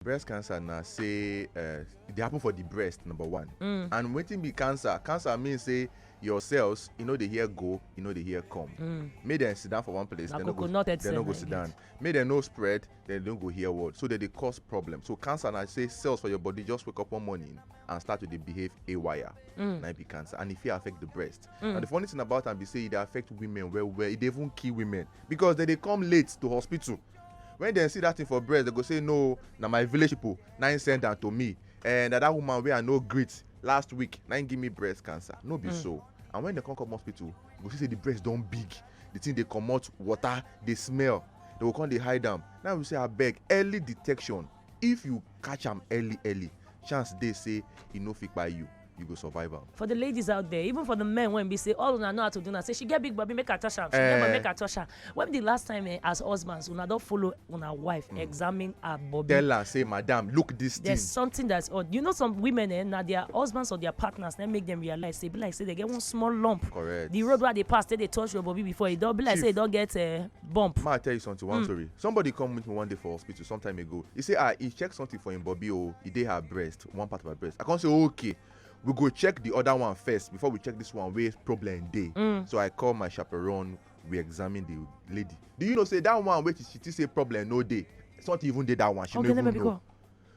breast cancer na say uh, e dey happen for the breast number one mm. and wetin be cancer cancer mean say your cells e no dey hear go e no dey hear come mm. make dem sit down for one place dem no go dem no go sit down make dem no spread dem no go hear word so dem dey cause problem so cancer na say cells for your body just wake up one morning and start to dey behave haywire mm. na be cancer and e fit affect the breast mm. and the funny thing about am be say e dey affect women well well e dey even kill women because dem dey come late to hospital when dem see that thing for breast dem go say no na my village people na im send am to me and that woman wey i no greet last week na im give me breast cancer no be mm. so and when dem come come hospital you go see say the breast don big the thing dey comot water dey smell they go come dey hide am now we say abeg early detection if you catch am early early chance dey say e no fit kpai you you go survive am. for the ladies out there even for the men wey be say all una know how to do na say she get big body make i touch am she get body eh. make i touch am when be the last time eh, as husbands una don follow una wife hmm. examine her body. tell her say madam look this thing. there's something that's odd you know some women eh, na their husbands or their partners na make them realize say be like say they get one small lump. correct the road wey i dey pass take dey touch your body before e don be like say e don get uh, bump. ma i tell you something one mm. story somebody come meet me one day for hospital some time ago he say ah he check something for him body o oh, e dey her breast one part of my breast i come say okay we go check the other one first before we check this one wey problem dey mm. so i call my chaperone we examine the lady do you know say that one wey she she think say problem no dey it's not even dey that one she no even know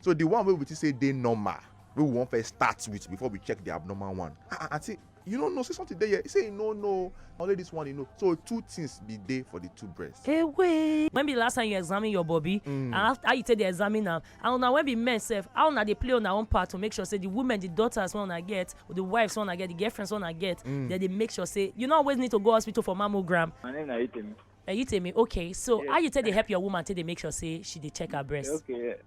so the one wey we think say dey normal wey we wan first start with before we check the abnormal one ah, ah aunty you no know say something dey here he say he no know only this one he know so two things be dey for the two breasts. Hey, wait. when be the last time you examine your body mm. and how, how you take dey examine am and una when be men sef how una dey play una own part to make sure say the women the daughters wey una get or the wives wey una get the girlfriends wey una get mm. dem dey make sure say you no always need to go hospital for mammogram. my name na itemi. Uh, you tell me okay so yeah. how you take dey help your woman take dey make sure say she dey check her breast. okay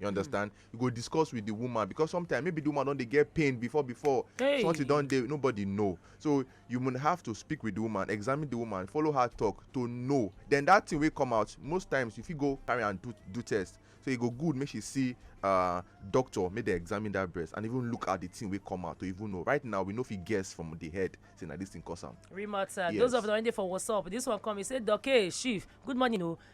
You hmm. understand? You go discuss with the woman because sometimes maybe the woman don't they get pain before before hey. something don't they nobody know. So you will have to speak with the woman, examine the woman, follow her talk to know. Then that thing will come out. Most times if you go carry and do do test, so e go good make she see uh, doctor make dem examine that breast and even look at the thing wey come out to even know right now we no fit guess from the head say na this thing cause am. real matter yes. those of una wey dey for whatsapp this one come e say doke chief good morning o oh.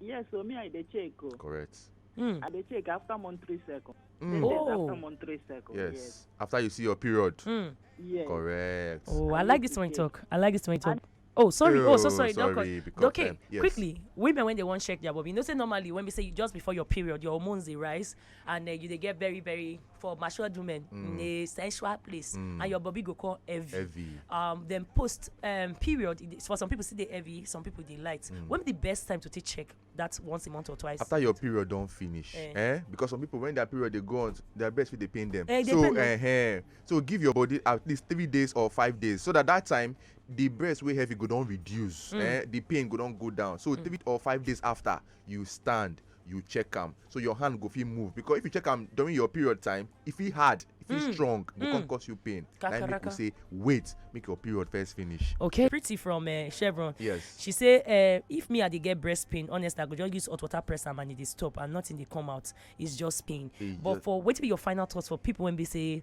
Yes, so me I dey check. Oh. Correct. Mm. I dey check after month three second. Mm. Oh. After month three second. Yes. yes. After you see your period. Mm. Yes. Correct. Oh, I, I like this one talk. I like this one talk. And Oh, sorry. Oh, oh so sorry. sorry because, okay, um, yes. quickly. Women when they want check their body, you know, say normally when we say just before your period, your hormones they rise, and uh, you they get very very for matured women mm. in a sensual place mm. and your body go call heavy. heavy. Um, then post um, period, for some people see the heavy, some people they light. Mm. When the best time to take check? That's once a month or twice. After your period don't finish. Eh. eh? Because some people when their period they go on, their best fit they pain them. Eh, so pain eh, eh, so give your body at least three days or five days so that that time the breast wey heavy go don reduce. Mm. Eh? The pain go don go down. So mm. three or five days after you stand you check am so your hand go fit move because if you check am during your period time e fit hard e fit mm. strong go mm. come cause you pain na im make we say wait make your period first finish. okay pretty from uh, chevron yes she say uh, if me i dey get breast pain honest i go just use hot water press am and e dey stop and nothing dey come out it's just pain e but just... for wetin be your final thoughts for people wey be say